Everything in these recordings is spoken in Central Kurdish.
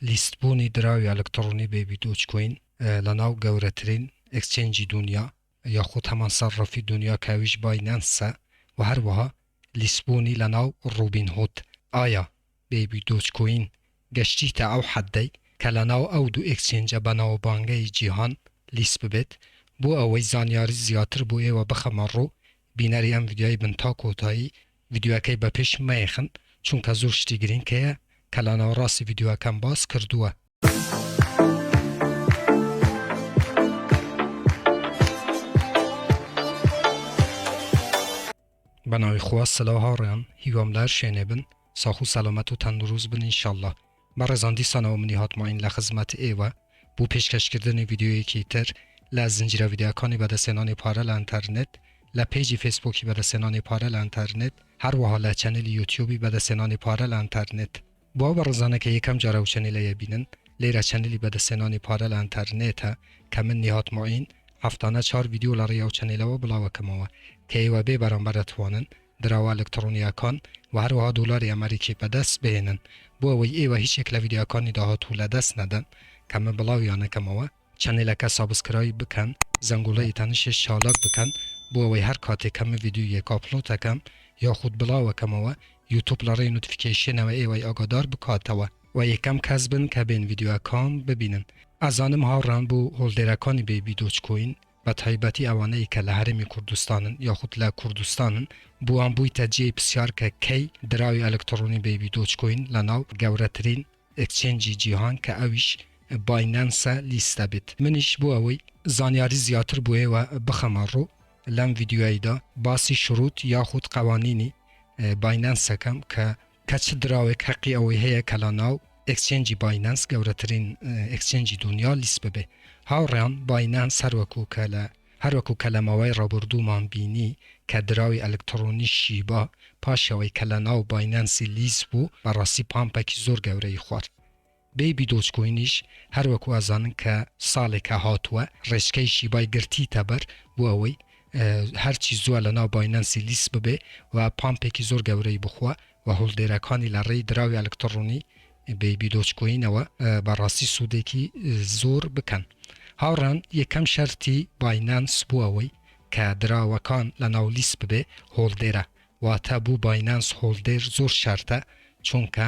لیست بوونی دراوی ئەلکتڕۆنی بەیبی دۆج کۆین لە ناو گەورەترین ئێکسچێنجی دونیا یاخود هەمان سەرڕەفی دونیا کە ئەویش باینەنسە و هەروەها لیست بوونی لە ناو ڕوبین هود ئایا بەیبی دۆج کۆین گەشتیتە ئەو حەدەی کە لە ناو ئەو دوو ئێکسچێنجە بەناوبانگەی جیهان لیست ببێت؟ بۆ ئەوەی زانیاری زیاتر بۆ ئێوە بخەمە ڕوو بینەری ئەم ڤیدیۆی بن تا کۆتایی ڤیدیۆکەی بە پێش مەیەخن چونکە زۆر شتی گرینگ هەیە کە لە ناوەڕاستی ڤیدیۆکەم باس کردووە. بەناوی خوا سلاو هاوڕێیان هیوام لە هەر شوێنێ بن ساخ و سەلامەت و تەندروست بن انشاللە بەڕێزان دیسانەوە منی هات ماین لە خزمەت ئێوە بۆ پێشکەشکردنی ڤیدیۆیەکی تر لە زنجیرە ڤیدیۆکانی بەدەستهێنانی پارە لە ئەنتەرنێت لە پەیجی فەیسبووکی بەدەستهێنانی پارە لە ئەنتەرنێت هەروەها لە چەنێلی یوتیوبی بەدەستهێنانی پارە لە ئەنتەرنێت. بۆ ئەو بەڕێزانە کە یەکەم جارە ئەو چەنێلە یەبینن لێرە چەنێلی بەدەستهێنانی پارە لە ئەنتەرنێتە کە من نیهات ماین هەفتانە چوار ڤیدیۆ لە ڕێی ئەو چەنێلەوە بڵاوەکەمەوە کە ئێوە بێ بەرامبەر دەتوانن دراوە ئەلکتڕۆنییەکان و هەروەها دۆلاری ئەمەریکی بەدەست بهێنن بۆ ئەوەی ئێوە هیچ یەک لە ڤیدیۆکانی داهاتوو لەدەست نەدەن کە من بڵاویان ئەکەمەوە. چەنێلەکە سابسکرایب بکەن زەنگۆڵەی تەنیشت چالاک بکەن بۆ ئەوەی هەر کاتێک کە من ڤیدیۆیەک ئاپلۆد ئەکەم یاخود بڵاو ئەکەمەوە یوتوب لە ڕێی نۆتفیکەیشنەوە ئێوەی ئاگادار بکاتەوە و یەکەم کەس بن کە بێن ڤیدیۆکان ببینن. ئەزانم هاوڕان بۆ هۆڵدێرەکانی بەیبی دۆج کۆین. بەتایبەتی ئەوانەی کە لە هەرێمی کوردستانن یاخود لە کوردستانن، بۆوان بوویتە جێی پرسیار کە کەی دراوی ئەلکتڕۆنی بەیبی دۆج کۆین لەناو گەورەترین ئێکچێنجی جیهان کە ئەویش باینەنسە لیست دەبێت؟ منیش بۆ ئەوەی زانیاری زیاتر بۆ ئێوە بخەمە ڕوو لەم ڤیدیۆیەیدا باسی شرووت یاخود قەوانینی باینەنس ئەکەم کە کە چ دراوێک هەقی ئەوەی هەیە کە لەناو ئێکسچێنجی باینەنس گەورەترین ئێکسچێنجی دونیا لیست ببێ هاوڕێیان باینەنس هەروەکو کە لە هەروەکو کە لەماوەی ڕابوردوومان بینی کە دراوی ئەلکتڕۆنی شیبا پاش ئەوەی کە لەناو باینەنسی لیست بوو بەڕاستی پامپەکی زۆر گەورەی خوارد بەیبی دۆجکۆینیش هەر وەکو ئەزانن کە ساڵێکە هاتووە ڕێچکەی شیبای گرتیتە بەر بۆ ئەوەی هەرچی زووە لەناو باینەنسی لیست ببێ و پامپێکی زۆر گەورەی بخوا و هۆڵدێرەکانی لە ڕێی دراوی ئەلکتڕۆنی بەیبی دۆجکۆینەوە بەڕاستی سوودێکی زۆر بکەن. هاوڕان یەکەم شەرتی باینەنس بۆ ئەوەی کە دراوەکان لەناو لیست ببێ هۆڵدێرە واتە بۆ باینەنس هۆڵدێر زۆر شەرتە چونکە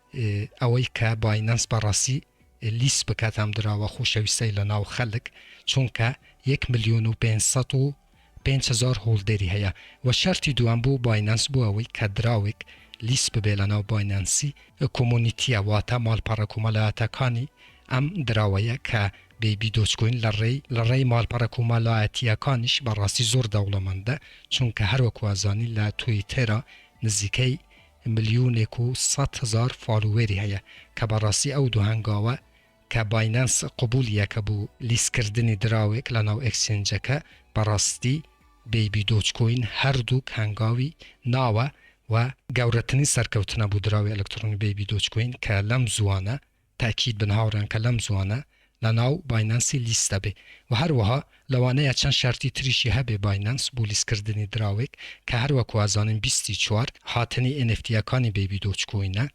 ئەوەی کە باینەنس بە ڕەسی لیست بکات ئەم دراوە خۆشەویستەی لە ناو خەلک چونکە یەک ملیۆن و پێنج سەد و پێنج هەزار هۆڵدەری هەیە وە شەرتی دووەم بۆ باینەنس بۆ ئەوەی کە دراوێک لیست ببێ لە ناو باینەنسی کۆمۆنیتیە واتە مالپەڕە کۆمەلایەتەکانی ئەم دراوەیە کە بەیبی دۆجکۆین لە ڕێی لە ڕێی مالپەڕە کۆمەلایەتیەکانیش بە ڕاستی زۆر دەوڵەمەندە چونکە هەر وەکو ئەزانین لە تویتێرا نزیکەی ملیونێک و سەد هەزار فالوێری هەیە کە بەڕاستی ئەو دوو هەنگاوە کە باینەنس قبولیەکە بو لیست کردنی دراوێک لە ناو ئێکسچێنجەکە بەڕاستی بەیبی دۆج کۆین هەردووک هەنگاوی ناوە و گەورەترین سەرکەوتنە بو دراوی ئەلکترۆنی بەیبی دۆج کۆین کە لەم زوانە تاکید بن هاوڕێن کە لەم زوانە لە ناو باینانسی لیست دەبێ و هەروەها لەوانەیە چەند شەرتی تریشی هەبێ باینانس بۆ لیست کردنی دراوێک کە هەر وەکو ئەزانین بیست و چوار هاتنی ئێنێفتییەکانی بەیبی دۆج کۆینە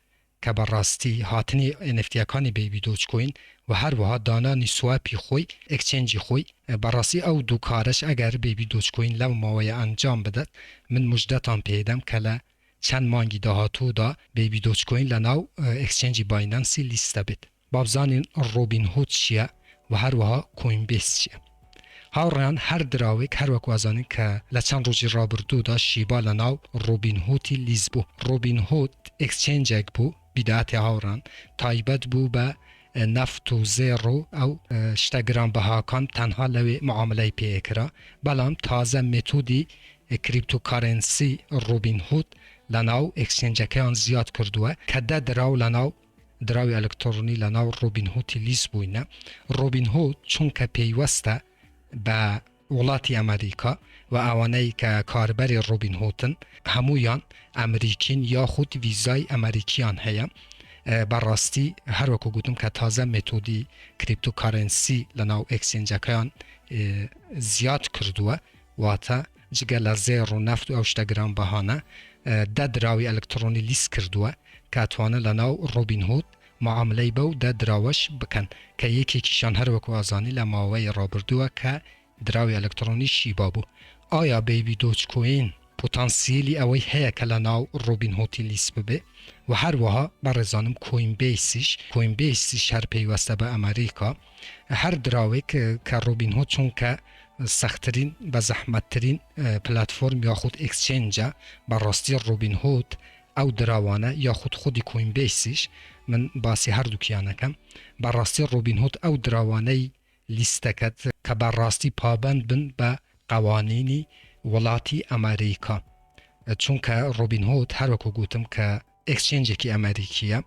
کە بە ڕاستی هاتنی ئێنێفتییەکانی بەیبی دۆج کۆین و هەروەها دانانی سواپی خۆی ئێکچێنجی خۆی بە ڕاستی ئەو دوو کارەش ئەگەر بەیبی دۆج کۆین لەو ماوەیە ئەنجام بدات من موژدەتان پێ دەم کە لە چەند مانگی داهاتوودا بەیبی دۆجکۆین لە ناو ئێکسچێنجی باینەنسی لیست دەبێت با بزانین ڕۆبین هود چیە وە هەروەها کۆین بێس چیە هاوڕێیان هەر دراوێک هەر وەک وازانین کە لە چەند ڕۆژی ڕابردوودا شیبا لە ناو ڕۆبین هوتی لیست بوو ڕۆبین هود ئێکسچێنجێک بوو بیداتی هاوڕان تایبەت بوو بە نەفت و زێڕ و ئەو شتە گرانبەهاکان تەنها لەوێ معامەلەی پێ ئەکرا بەڵام تازە مێتودی کریپتو کارێنسی ڕوبین هود لەناو ئێکسچێنجەکەیان زیاد کردووە کە دە دراو لەناو دراوی ئەلکتڕۆنی لەناو ڕوبین هوتی لیست بووینە ڕوبین هود چونکە پەیوەستە بە وڵاتی ئەمەریکا و ئەوانەی کە کاربەری ڕۆبین هۆتن هەموویان ئەمریکین یاخود ڤیزای ئەمەریکیان هەیە بەڕاستی هەروەکو گوتم کە تازە مێتۆدی کریپتۆ کارێنسی لەناو ئێکسێنجەکەیان زیاد کردووە واتە جگە لە زێڕ و نەفت و ئەو شتە گران بەهانە دە دراوی ئەلکتڕۆنی لیست کردووە کە توانن لەناو ڕۆبین هۆت معاملەی بەو دە دراوەش بکەن کە یەکێکیشان هەر وەکو ئازانی لە ماوەی ڕابردووە کە دراوی ئەلکترۆنی شیبا بوو. ئایا بەیبی دۆج کۆین پوتانسییلی ئەوەی هەیە کە لە ناو ڕۆبین هۆتی لیست ببێ و هەر وەها بەڕێزانم کۆین بەیسیش کۆین بەیسیش هەر پەیوەستە بە ئەمەریکا هەر دراوێک کە ڕۆبین هۆد چونکە سەخترین بە زەحمەتترین پلاتفۆرم یاخود ئێکسچێنجە بە ڕاستی ڕۆبین هۆد ئەو دراوانە یاخود خودی کۆینبەیسیش من باسی هەردووکیان ئەکەم بەڕاستی ڕۆبینهود ئەو دراوانەی لیستەکەت کە بەڕاستی پابەند بن بە قەوانینی وڵاتی ئەمەریکا چونکە ڕۆبینهود هەر وەکو گوتم کە ئێکسچێنجێکی ئەمەریکیە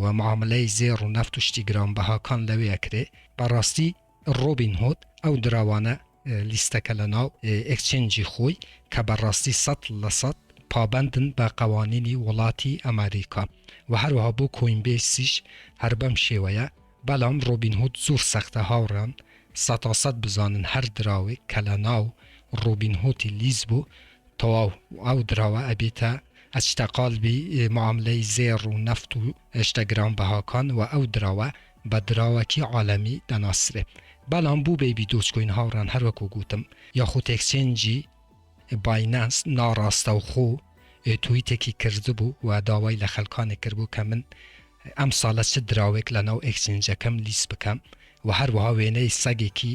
و معامەلەی زێڕ و نەفت و شتی گرانبەهاکان لەوێ ئەکرێ بەڕاستی ڕۆبینهود ئەو دراوانە لیستەکە لەناو ئێکچێنجی خۆی کە بە ڕاستی سەد لە سەد پابەندن بە قەوانینی وڵاتی ئەمەریکا وە هەروەها بۆ کۆینبەیسیش هەر بەم شێوەیە بەلام ڕۆبینهود زۆر سەختە هاوڕێان سەتا سەد بزانن هەر دراوێک کە لەناو ڕۆبینهۆتی لیست بوو تەواو ئەو دراوە ئەبێتە ئەچتە قالبی معاملەی زێڕ و نەفت و شتە گرانبەهاکان وە ئەو دراوە بە دراوەکی عالەمی دەناسرێ بەڵام بو بەیبی دۆجکۆین هاوڕام هەر وەکو گوتم یاخود ئێکسچێنجی باینانس ناڕاستەوخۆ تویتێکی کردبو و داوای لە خەلکانێک کردبو کە من ئەمساڵە چ دراوێک لەناو ئێکسچێنجەکەم لیست بکەم و هەروەها وێنەی سەگێکی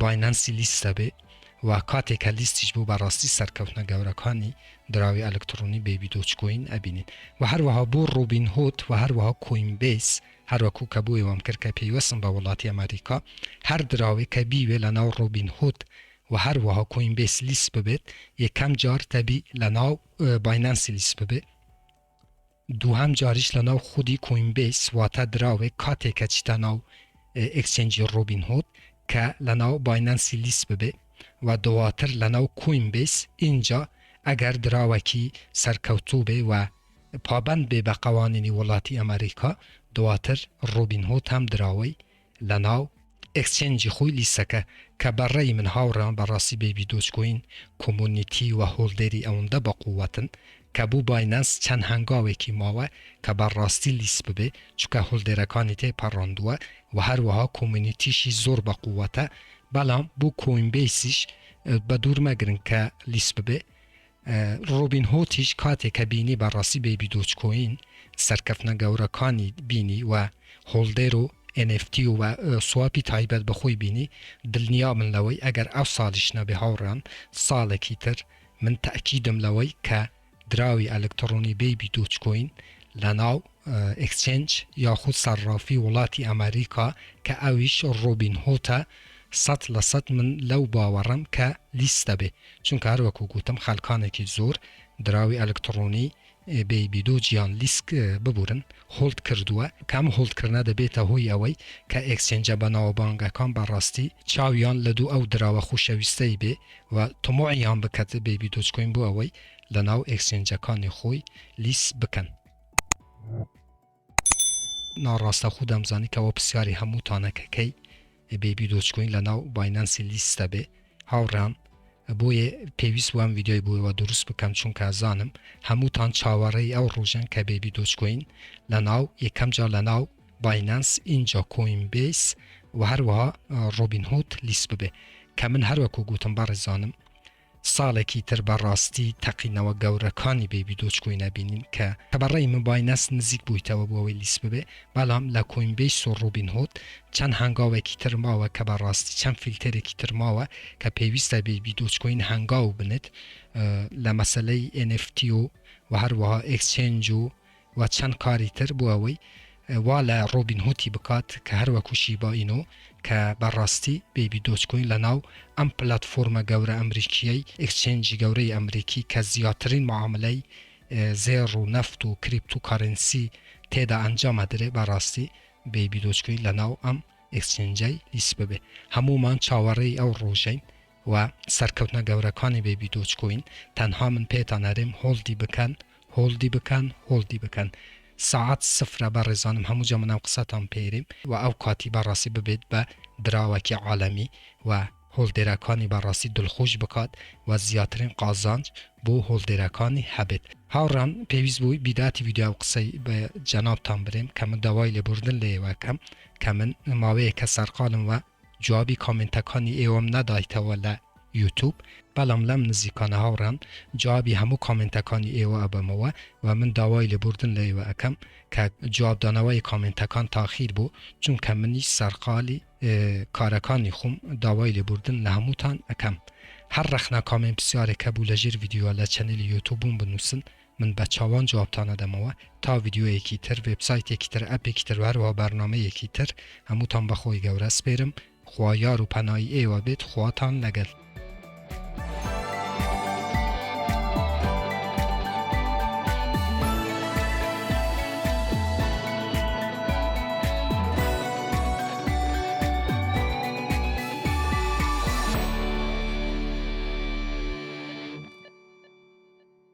باینەنسی لیست دەبێ و کاتێک کە لیستیش بوو بەڕاستی سەرکەوتنە گەورەکانی دراوی ئەلکتڕۆنی بەیبی دۆجکۆین ئەبینین و هەروەها بۆ ڕوبین هۆد و هەروەها کۆین بەیس هەروەکو کە بۆی وام کرد کە پەیوەستن بە وڵاتی ئەمەریکا هەر دراوێک کە بیوێ لە ناو ڕوبین هۆد و هەروەها کۆین بەیس لیست ببێت یەکەم جار دەبی لە ناو باینەنسی لیست ببێ دووهەم جاریش لەناو خودی کۆینبەیس واتە دراوێک کاتێک کە چیتە ناو ئێکسچێنجی ڕۆبین هود کە لەناو باینانسی لیست ببێ و دواتر لەناو کۆینبەیس ئینجا ئەگەر دراوەکی سەرکەوتوو بێ و پابەند بێ بە قەوانینی وڵاتی ئەمەریکا دواتر ڕۆبین هود هەم دراوەی لەناو ئێکسچێنجی خوی لیسەکە کە بە ڕەئی من هاوڕێمە بە ڕاستی بەیبی دۆج کۆین کۆمۆنیتی وە هۆڵدێری ئەوندە بە قووەتن کە بو باینانس چەند هەنگاوێکی ماوە کە بە ڕاستی لیس ببێ چونکە هۆڵدێرەکانی تێ پەڕاندوە وە هەروەها کۆمۆنیتیشی زۆر بە قووەتە بەڵام بو کۆینبەیسیش بە دوور مەگرن کە لیس ببێ ڕۆبین هۆتیش کاتێک کە بینی بە ڕاستی بەیبی دۆجکۆین سەرکەفتنە گەورەکانی بینی و هۆڵدەر و NFT و سواپی تایبەت بە خۆی بینی دلنیا بن لەوەی ئەگەر ئەو سالیش نەبێ هاوڕێیان ساڵێکی تر من تەئکیدم لەوەی کە دراوی ئەلکتڕۆنی بەیبی دۆجکۆین لە ناو ئێکسچێنج یاخود سەرڕافی وڵاتی ئەمەریکا کە ئەویش ڕۆبین هۆتە سەد لە سەد من لەو باوەڕەم کە لیست دەبێ چونکە هەر وەکو گوتم خەلکانێکی زۆر دراوی ئەلکتڕۆنی بەیبی دۆج یان لیسک ببورن هۆڵد کردووە کە ئەم هۆڵد کردنە دەبێتە هۆی ئەوەی کە ئێکسچێنجە بەناوبانگەکان بە ڕاستی چاویان لە دوو ئەو دراوە خوشەویستەی بێ و تموعیان بکەت بەیبی دۆج کۆین بۆ ئەوەی لە ناو ئێکسچێنجەکانی خۆی لیست بکەن. ناڕاستەخۆ دەمزانی کەوا پرسیاری هەمووتانە کە کەی بێبی دۆجکۆین لە ناو باینانسی لیست دەبێ هاوڕێیان بۆیە پێویست وام ویددیۆی بۆەوە دروست بکەم چونکە زانم هەمووتان چاوەڕێی ئەو ڕۆژەن کە بێبی دۆجکۆین لە ناو یەکەم جار لە ناو باینانس ئینجا کۆین بیس و هەروەها ڕۆبین هوت لیست ببێ کە من هەروەکو گوتم بەڕێزانم ساڵێکی تر بە ڕاستی تەقینەوە گەورەکانی بەیبی دۆجکۆین ئەبینین کە کە بە ڕای من باینەس نزیک بوویتەوە بۆ ئەوەی لیست ببێ بەڵام لە کۆینبەیس و ڕوبین هود چەند هەنگاوێکی تر ماوە کە بە ڕاستی چەند فیلتەرێکی تر ماوە کە پێویستە بەیبی دۆجکۆین هەنگاو بنێت لە مەسەلەی NFT و و هەروەها ئێکسچێنج و و چەند کاری تر بۆ ئەوەی وا لە ڕۆبین هوتی بکات کە هەر وەکو شیبا ئینۆ کە بە ڕاستی بەیبی دۆج کۆین لە ناو ئەم پلاتفۆرمە گەورە ئەمریکییەی ئێکچێنجی گەورەی ئەمریکی کە زیاترین معاملەی زێڕ و نەفت و کریپتو کارێنسی تێدا ئەنجام ئەدرێ بە ڕاستی بەیبی دۆج کۆین لە ناو ئەم ئێکچێنجەی لیست ببێ هەموومان چاوەڕێی ئەو ڕۆژەین و سەرکەوتنە گەورەکانی بەیبی دۆج کۆین تەنها من پێتان ئەرێم هۆڵدی بکەن هۆڵدی بکەن هۆڵدی بکەن سەعات سفرە بەڕێزانم هەمووجا من ئەم قسەتان پێرێم و ئەو کاتی بەڕاستی ببێت بە دراوەکی عالەمی و هۆڵدێرەکانی بەڕاستی دڵخۆش بکات و زیاترین قازانج بۆ هۆڵدێرەکانی هەبێت هاوڕێیان پێویست بوو بیداتی ڤیدیۆ ئەو قسەی بە جەنابتان برێم کە من داوای لێبوردن لە ئێوە ئەکەم کە من ماوەیەکە سەرقالم و جوابی کۆمێنتەکانی ئێوەم نەدایتەوە لە یوتوب بەڵام لەم نزیکانە هاوڕام جوابی هەموو کۆمێنتەکانی ئێوە ئەبەمەوە و من داوای لێبوردن لە ئێوە ئەکەم کە جواب دانەوەی کۆمێنتەکان تاخیر بوو چونکە منیش سەرقالی کارەکانی خۆم داوای لێبوردن لە هەمووتان ئەکەم هەر ڕەخنە کۆمێنت پسیارێک هەبوو لە ژێر ڤیدیۆ لە چەنێلی یوتوبم بنووسن من بە چاوان جوابتان ئەدەمەوە تا ڤیدیۆیەکی تر وێبسایتێکی تر ئەپێکی تر وەهەروەها بەرنامەیەکی تر هەمووتان بە خۆی گەورە سپێرم خوا یار و پەنای ئێوە بێت خواتان لەگەل.